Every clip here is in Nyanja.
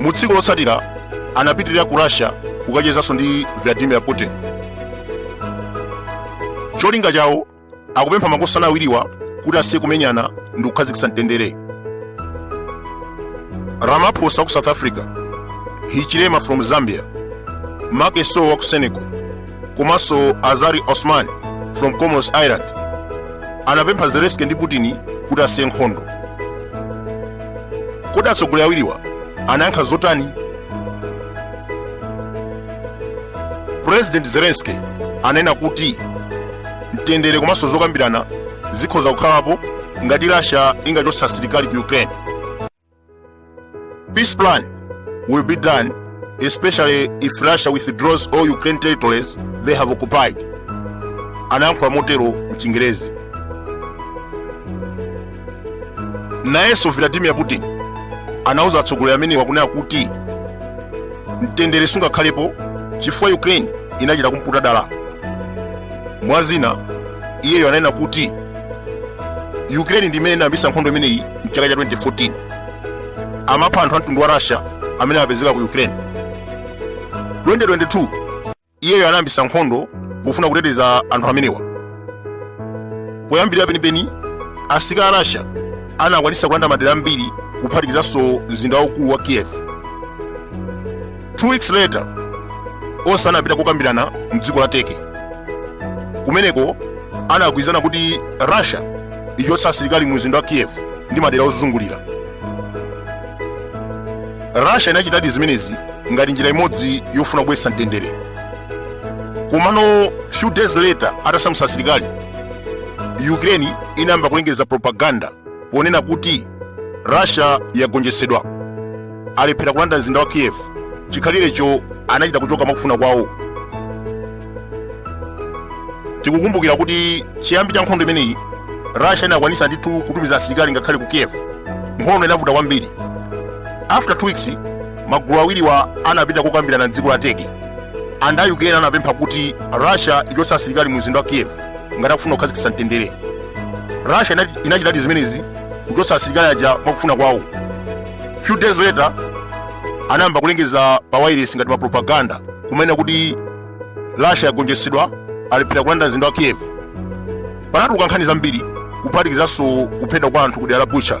Mu tsiku lotsatira anapitirira ku Russia kukachezanso ndi Vladimir Putin. Cholinga chawo akupempha makosana awiriwa kuti asiye kumenyana ndi kukhazikitsa mtendere. Ramaphosa wa ku South Africa, Hichilema from Zambia, Macky Sall wa ku Senegal, komanso azali assoumani from comoros island anapempha zelenski ndi putin kuti asiye nkhondo kodi atsogoleri awiriwa anayankha zotani president zelenski ananena kuti mtendere komanso zokambirana zikhoza kukhalapo ngati russia ingachotsa asilikali ku ukraine Peace plan will be done, especially if Russia withdraws all Ukraine territories they have occupied. Anayankhula motero mchingerezi. Nayenso Vladimir Putin anauza atsogoleri amenewa kunena kuti mtendere sungakhalepo chifukwa Ukraine inachita kumputa dala. Mwazina iyeyo ananena kuti ukraine ndi imene inayambisa nkhondo imeneyi mchaka cha 2014 amapha anthu a mtundu wa russia amene amapezeka ku ukraine 2022 iyeyo anayambisa nkhondo pofuna kuteteza anthu amenewa poyambirira penipeni asilikali a russia anakwanisa kulanda madera ambiri kuphatikizanso mzinda waukulu wa kiev Two weeks later, onse anapita kukambirana mdziko la Turkey. Kumeneko anagwirizana kuti Russia ichotsa asilikali mu mzinda wa Kiev ndi madera ozungulira. Russia inachitadi zimenezi ngati njira imodzi yofuna kubweretsa mtendere. Komano few days later atasamutsa asilikali, Ukraine inayamba kulengeza propaganda ponena kuti russia yagonjetsedwa alephera kulanda mzinda wa kiev chikhalirecho anachita kuchoka mwakufuna kwawo tikukumbukira kuti chiyambi cha nkhondo imeneyi russia inakwanisa ndithu kutumiza asilikali ngakhale ku kiev nkhondo inavuta kwambiri after two weeks magulu awiriwa anapita kokambirana mdziko la turkey anthu a ukraine anapempha kuti russia ichotse asilikali mu mzinda wa kiev ngati akufuna kukhazikitsa mtendere russia ina- inachitadi zimenezi kuchotsa asilikali aja mwakufuna kwawo few days later anayamba kulengeza pa wireless ngati pa propaganda kumanena kuti russia yagonjetsedwa alephera kulanda mzinda wa kiev panatuluka nkhani zambiri kuphatikizanso kuphedwa kwa anthu ku dera la bucha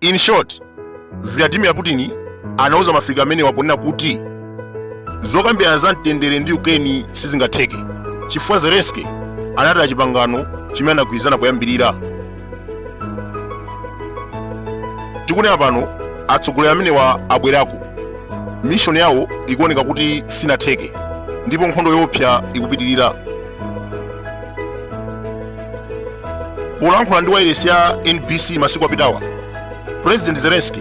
In short, Vladimir Putin anauza maafrika amenewa ponena kuti zokambirana za mtendere ndi Ukraine sizingatheke chifukwa Zelensky anataya chipangano chimene anagwirizana poyambirira. Tikunena pano atsogoleri amenewa abwerako, mishoni yawo ikuoneka kuti sinatheke ndipo nkhondo yoopsa ikupitirira. polankhula ndi wailesi ya nbc masiku apitawa president zelensky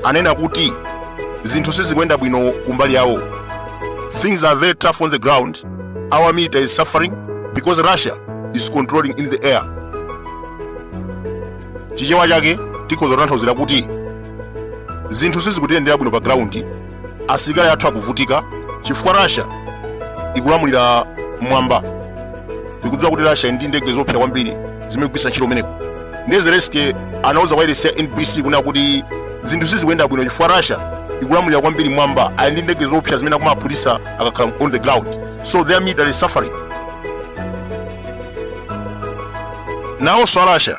anena kuti zinthu sizikuyenda bwino kumbali yawo things are very tough on the ground our military is suffering because russia is controlling in the air chichewa chake tikhoza kutanthauzira kuti zinthu sizikutiyendera bwino pa ground asilikali athu akuvutika chifukwa russia ikulamulira mwamba tikudziwa kuti russia ili ndi ndege zoopsa kwambiri zimene ikugwiritsa ntchito umeneko ndiye zelensky anauza wailesi ya nbc kunena kuti zinthu sizikuyenda bwino chifukwa russia ikulamulira kwambiri mwamba ali ndi ndege zoopsa zimene akumaphulitsa akakhala on the ground so their military is suffering nawonso a russia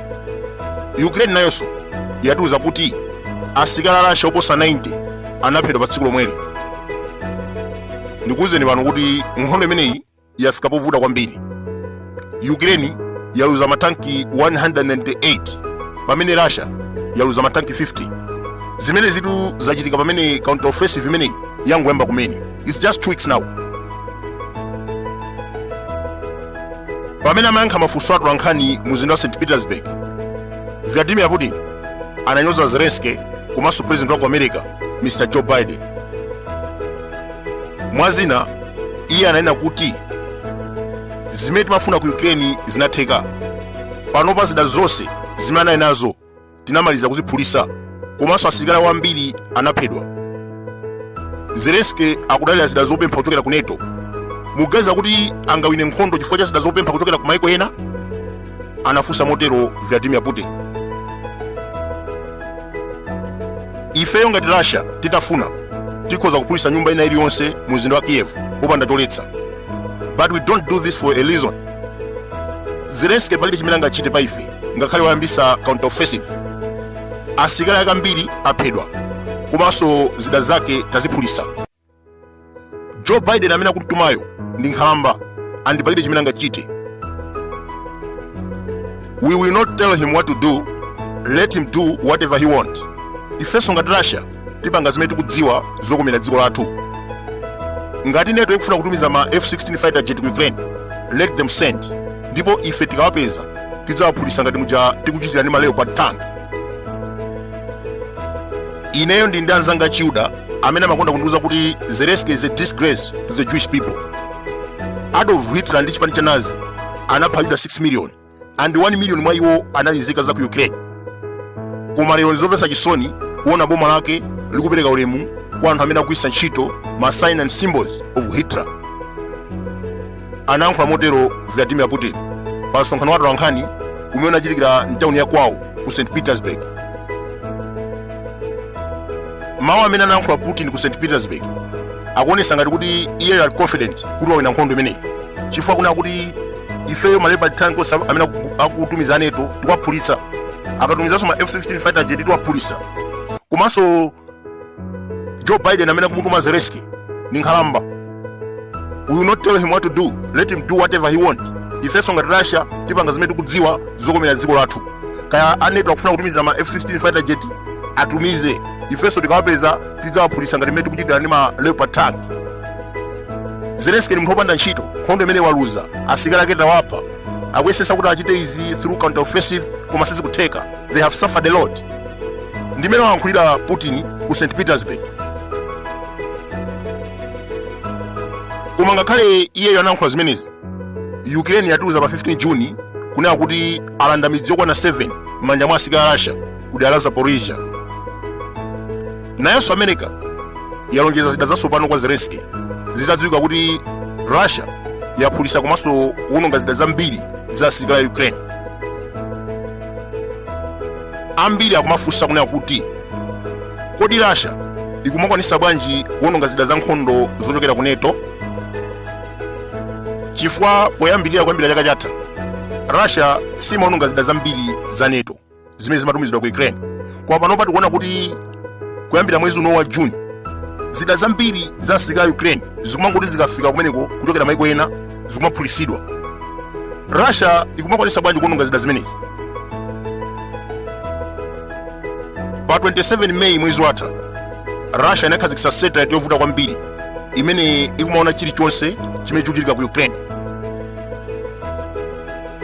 ukraine nayonso yatiuza kuti asilikali a russia oposa 90 anaphedwa pa tsiku lomweli ndikuwuzeni pano kuti nkhondo imeneyi yafika povuta kwambiri ukraine yaluza matanki 198 pamene russia yaluza matanki 50 zimenezitu zachitika pamene counter offensive imeneyi yangoyamba kumene It's just two weeks now. Pamene amayankha mafunso atolankhani mu mzinda wa St. Petersburg, Vladimir Putin ananyoza Zelensky komanso president wa ku America, Mr. Joe Biden. Mwa zina, iye ananena kuti zimene timafuna ku Ukraine zinatheka. Panopa zida zonse zimene anali nazo tinamaliza kuziphulisa komanso asilikali ambiri anaphedwa zelensky akudalira zida zopempha kuchokera ku nato muganiza kuti angawine nkhondo chifukwa cha zida zopempha kuchokera ku maiko ena anafunsa motero vladimir putin ifeyo ngati russia titafuna tikhoza kuphulisa nyumba ina iliyonse mu mzinda wa kiev popanda choletsa but we don't do this for a reason zelensky palibe chimene angachite pa ife ngakhale wayambisa counter offensive asilikali ake ambiri aphedwa komanso zida zake taziphulisa joe biden amene akumtumayo ndi nkhalamba and palibe chimene angachite we will not tell him what to do let him do whatever he want ifenso ngati russia tipanga zimene tikudziwa zokomera dziko lathu ngati NATO ikufuna kutumiza ma f16 fighter jet ku ukraine let them send ndipo ife tikawapeza tidzawaphulisa ngati muja tikuchitira ndi ma leopard tank ineyo ndili ndi anzanga achiyuda amene amakonda kundiuza kuti zelenski is a disgrace to the jewish people adolf hitler ndi chipani cha nazi anapha ayuda 6 million and 1 million mwa iwo anali nzika za ku Ukraine. Koma lero ndizomvetsa chisoni kuona boma lake likupereka ulemu kwa anthu amene akugwiritsa ntchito ma sign and symbols of Hitler. Anayankhula motero Vladimir Putin pa msonkhano wa atolankhani umene unachitikira mtawuni ya kwawo ku St Petersburg. Mawu amene anayankhula Putin ku St Petersburg akuonesa ngati kuti iye ali confident kuti wawina nkhondo imeneyi chifukwa kunena kuti ifeyo ma leopard tanks amene aku- akutumiza a NATO tikuwaphulitsa akatumizanso ma f16 fighter jet tiwaphulitsa komanso joe biden amene akumutuma zelenski ni nkhalamba we will not tell him what to do let him do whatever he want ifenso ngati russia tipanga zimene tikudziwa zokomera dziko lathu kaya a NATO akufuna kutumiza ma f16 fighter jet atumize ifenso tikawapeza tidzawaphulisa ngati mmene tikuchitira ndi ma leopard tank zelenski ni munthu wopanda ntchito nkhondo imeneyi waluza asilikali ake tawapha akuyesesa kuti achite izi through counter offensive koma sizikutheka they have suffered a lot ndi mmene wayankhulira putin ku st petersburg koma ngakhale iyeyo anayankhula zimenezi ukraine yatiuza pa 15 juni kunena kuti alanda midzi yokwana 7 m'manja mwa asilikali a russia ku dera la Zaporizhia. Nayonso America yalonjeza zida zatsopano kwa Zelensky zitadziwika kuti Russia yaphulitsa komanso kuwononga zida zambiri za asilikali a Ukraine. Ambiri akumafunsa kunena kuti kodi Russia ikumakwanisa bwanji kuwononga zida za nkhondo zochokera ku NATO? Chifukwa poyambirira kuyambira chaka chatha Russia simawononga zida zambiri za NATO. zimene zimatumizidwa ku ukraine koma panopa tikuona kuti kuyambira mwezi uno wa june zida zambiri za asilikali a ukraine zikumangoti zikafika kumeneko kuchokera maiko ena zikumaphulisidwa russia ikumakwanisa bwanji kuononga zida zimenezi pa 27 meyi mwezi watha russia inakhazikitsa satellite yovuta kwambiri imene ikumaona chilichonse chimene chikuchitika ku ukraine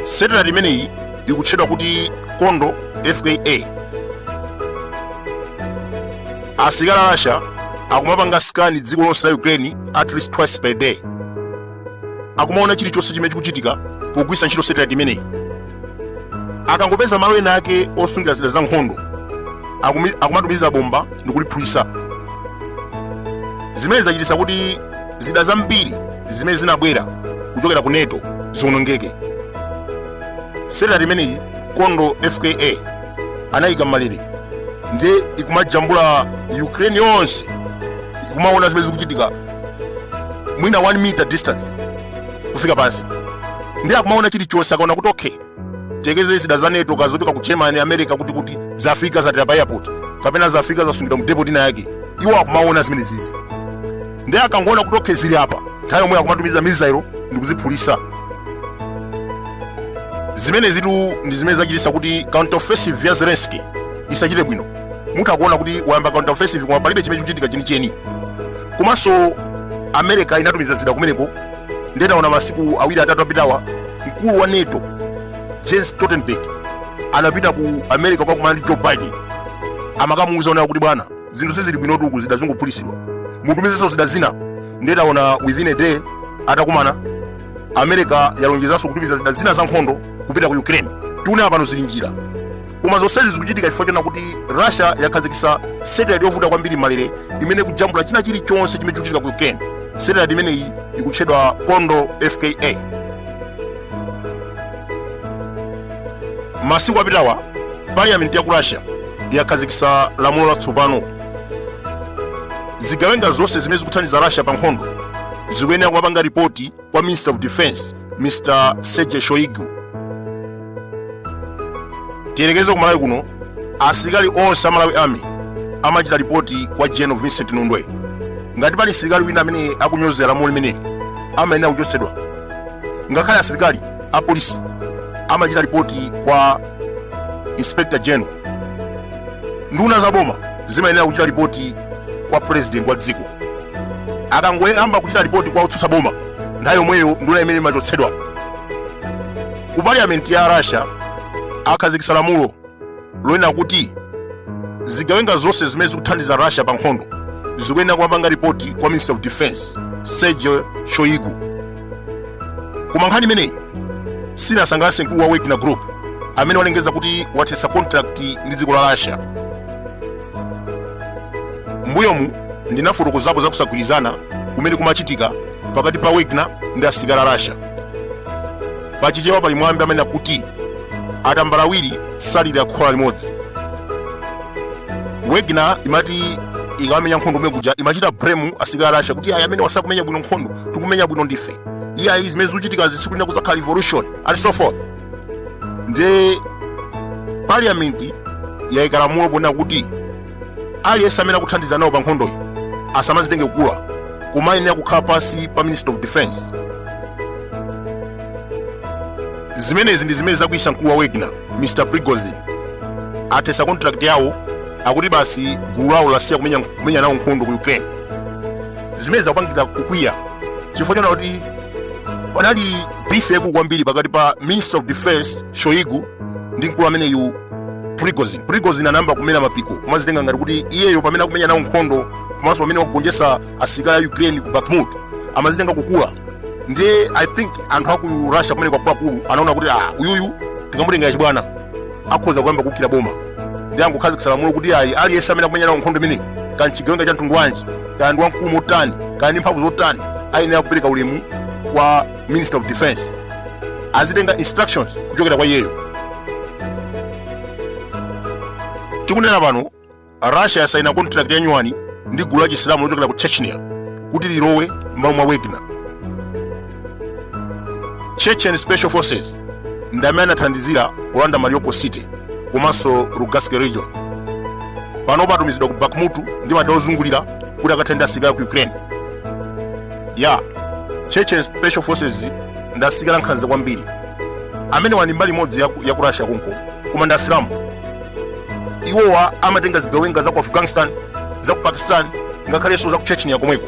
satellite imeneyi ikutchedwa kuti kondo fka asilikali a russia akumapanga scan dziko lonse la ukraine at least twice per day akumaona chilichonse chimene chikuchitika pogwiritsa ntchito satellite imeneyi akangopeza malo ena ake osungira zida za nkhondo akumi- akumatumiza bomba ndikuliphulitsa zimene zachititsa kuti zida zambiri zimene zinabwera kuchokera ku nato ziwonongeke satellite imeneyi kondo fka anayika m'malere ndiye ikumajambula ukraine yonse ikumaona zimene zikuchitika mwina 1 meter distance kufika pansi ndiye akumaona chilichonse akaona kuti okay tiyerekeze zida za nato kaya zochoka ku germany america kuti kuti zafika zatera pa airport kapena zafika zasungidwa mu depot ina yake iwo akumaona zimenezizi ndiye akangoona kuti okay zili apa nthawi yomweyo akumatumiza missile ndi kuziphulitsa zimenezitu ndi zimene zachititsa kuti counter offensive ya zelensky isachite bwino mutha kuona kuti wayamba counter offensive koma palibe chimene chikuchitika chenicheni komanso america inatumiza zida kumeneko ndiye taona masiku awiri atatu apitawa mkulu wa nato jens stoltenberg anapita ku america kukakumana ndi joe biden amakamuuza zoona kuti bwana zinthu sizili bwinotu uku zida zikungophulitsidwa mutumizenso zida zina ndiye taona within a day atakumana america yalonjezanso kutumiza zida zina za nkhondo kupita ku ukraine tikunena pano zili m'njira koma zonsezi zikuchitika chifukwa chonena kuti russia yakhazikitsa satellite yovuta kwambiri m'malere imene ikujambula china chilichonse chimene chikuchitika ku ukraine satellite imeneyi ikutchedwa kondo fka masiku apitawa parliament ya ku russia yakhazikitsa lamulo latsopano zigawenga zonse zimene zikuthandiza russia pa nkhondo zikuyenera kumapanga ripoti kwa minister of defense mr sergei shoigu tiyerekeze ku malawi kuno asilikali onse a malawi army amachita ripoti kwa general vincent nundwe ngati pali msilikali wina amene akunyozera lamulo limeneli amayenera kuchotsedwa ngakhale asilikali a polisi amachita ripoti kwa inspector general nduna za boma zimayenera kuchita ripoti kwa president wa dziko akangoyamba kuchita ripoti kwa otsutsa boma nthawi yomweyo nduna imeneyi imachotsedwa ku parliament ya russia akhazikitsa lamulo lonena kuti zigawenga zonse zimene zikuthandiza russia pa nkhondo zikuyenera kumapanga ripoti kwa minister of defense sergei shoigu koma nkhani imeneyi sinasangalatse mkulu wa wagner group amene walengeza kuti wathetsa contract ndi dziko la russia Mbuyomu ndinafotokozapo za kusagwirizana kumene kumachitika pakati pa Wagner ndi asilikali a Russia. Pa Chichewa pali mwambi amene akuti atambala awiri salira khola limodzi. Wagner imati ikamenya nkhondo kumene kuja imachita blame asilikali a Russia kuti ayi amenewa sakumenya bwino nkhondo tikumenya bwino ndife. Iyayi zimene zikuchitikazi tsiku lina kudzakhala revolution and so forth. nde parliament yaika lamulo ponena kuti aliyense amene akuthandiza nawo pa nkhondoyi asamazitenge kukula koma ayenera kukhala pansi pa ministry of defense zimenezi ndi zimene zakwiyitsa mkulu wa wagner mr prigozhin athetsa contract yawo akuti basi gulu lawo lasiya kumenya nawo nkhondo ku ukraine zimene zikupangitsa kukwiya chifukwa chonena kuti panali beef yaikulu kwambiri pakati pa minister of defense shoigu ndi mkulu ameneyu prigozhin prigozhin anayamba kumera mapiko kumazitenga ngati kuti iyeyo pamene akumenya nawo nkhondo komanso pamene akugonjetsa asilikali a ukraine ku bakhmut amazitenga kukula ndiye i think anthu aku russia kumeneko akuluakulu anaona kuti ah uyuyu tikamutengera chibwana akhoza kuyamba kuukira boma nde angokhazikitsa lamulo kuti ayi aliyense amene akumenya nawo nkhondo imeneyi kaya nchigawenga cha mtundu wanji kaya ndi wamkulu motani kaya ndi mphamvu zotani ayenera kupereka ulemu kwa minister of defense azitenga instructions kuchokera kwa iyeyo tikunena pano russia yasaina contract ya nyuwani ndi gulu la chisilamu lochokera ku chechnya kuti lilowe m'malo mwa wagner chechen special forces ndi amene anathandizira kulanda mariupol city komanso lugansk region panopa atumizidwa ku bakhmut ndi madera ozungulira kuti akathane ndi asilikali aku ukraine ya chechen special forces ndi asilikali ankhanza kwambiri amenewa ndi mbali imodzi ya ku russia konko koma ndi asilamu iwowa amatenga zigawenga za ku afghanistan za ku pakistan ngakhalenso za ku chechnya komweko